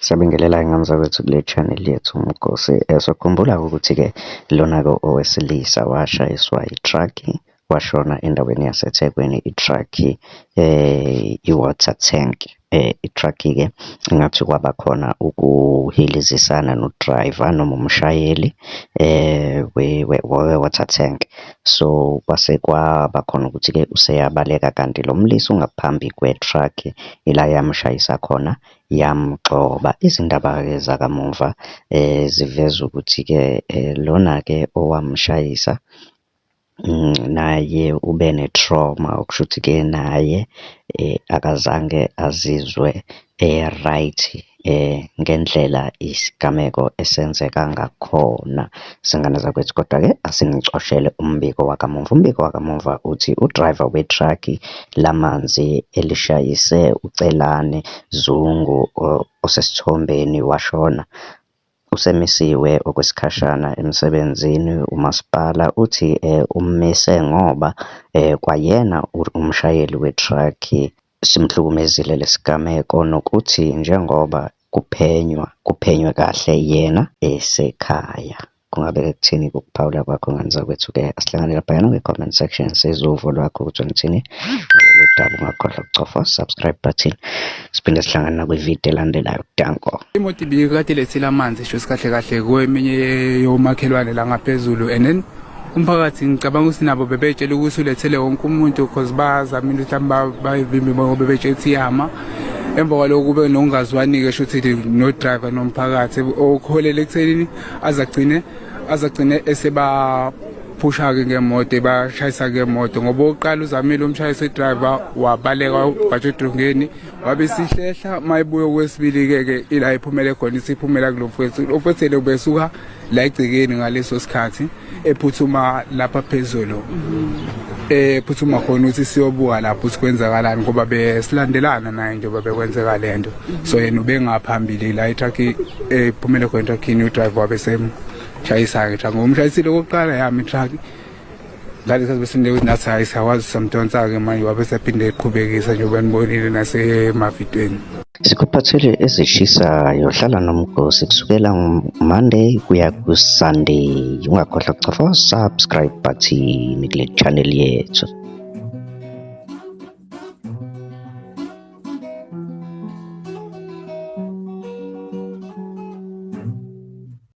Siyabingelela ingane zakwethu kule channel yethu Mgosi. Eh, Sokhumbula ukuthi-ke lona-ke owesilisa washayiswa i-truck washona endaweni yaseThekwini i-truck eh i-water tank eh i-truck-ke ngathi kwaba khona ukuhilizisana no-driver noma umshayeli eh we-water tank. So kwase kwaba khona ukuthi-ke useyabaleka kanti lo mlisa ungaphambi kwe-truck ila yamshayisa khona yamgxoba. Izindaba-ke zakamuva ziveza ukuthi-ke lona-ke owamshayisa naye ube ne-trauma, okushuthi-ke naye akazange azizwe e-right ngendlela isigameko esenzeka ngakhona. Zingane zakwethu kodwa-ke asinicoshele umbiko wakamuva. Umbiko wakamuva uthi udrayiva wethraki lamanzi elishayise uCelani Zungu osesithombeni washona usemisiwe okwesikhashana emsebenzini. Umasipala uthi ummese ngoba kwayena umshayeli wethraki Simhlukumezile lesi gameko nokuthi njengoba kuphenywa kuphenywe kahle yena esekhaya. Kungabe ke kuthini ke ukuphawula kwakho ngane zakwethu ke? Asihlangane laphayana kwi comment section sizwe uvo lwakho ukuthi ngithini ngalolu daba. Ungakhohlwa ukucofa subscribe button. Siphinde sihlangane nakwi video elandelayo. Danko. Imoto ibikade ilethile amanzi shuthi kahle kahle kweminye yomakhelwane la ngaphezulu and then umphakathi ngicabanga ukuthi nabo bebetshela ukuthi ulethele wonke umuntu because bazamile ukuthi bayivimbe ngoba bebetshela ukuthi iyama emva kwaloko kube nokungazwani-ke sho ukuthi nodriver nomphakathi okuholele ekuthenini azagcine azagcine esebaphusha-ke ngemoto ebashayisa ngemoto ngoba oqala uzamile umshayisi idriver wabaleka wabhatsha edrongeni wabe sihlehla uma ebuye okwesibili-ke ke ila iphumele khona isiphumela kulo mfwethu ofwethele ubesuka la egcekeni ngaleso sikhathi ephuthuma lapha phezulu eh phuthuma khona ukuthi siyobuka lapho ukuthi kwenzakalani ngoba besilandelana naye njengoba bekwenzeka lento so yena ubengaphambili la itruck ephumele khona itruck ni driver wabe sem chayisa ke truck ngomshayisile okokuqala yami truck ngale sikhathi besinde ukuthi nathi hhayi siyawazi samdonsa-ke manje wabe sephinde eqhubekisa njengoba nibonile nasemavidweni sikuphathele ezishisayo hlala nomgosi kusukela monday kuya kusunday ungakhohlwa kucofa subscribe button kule channel yethu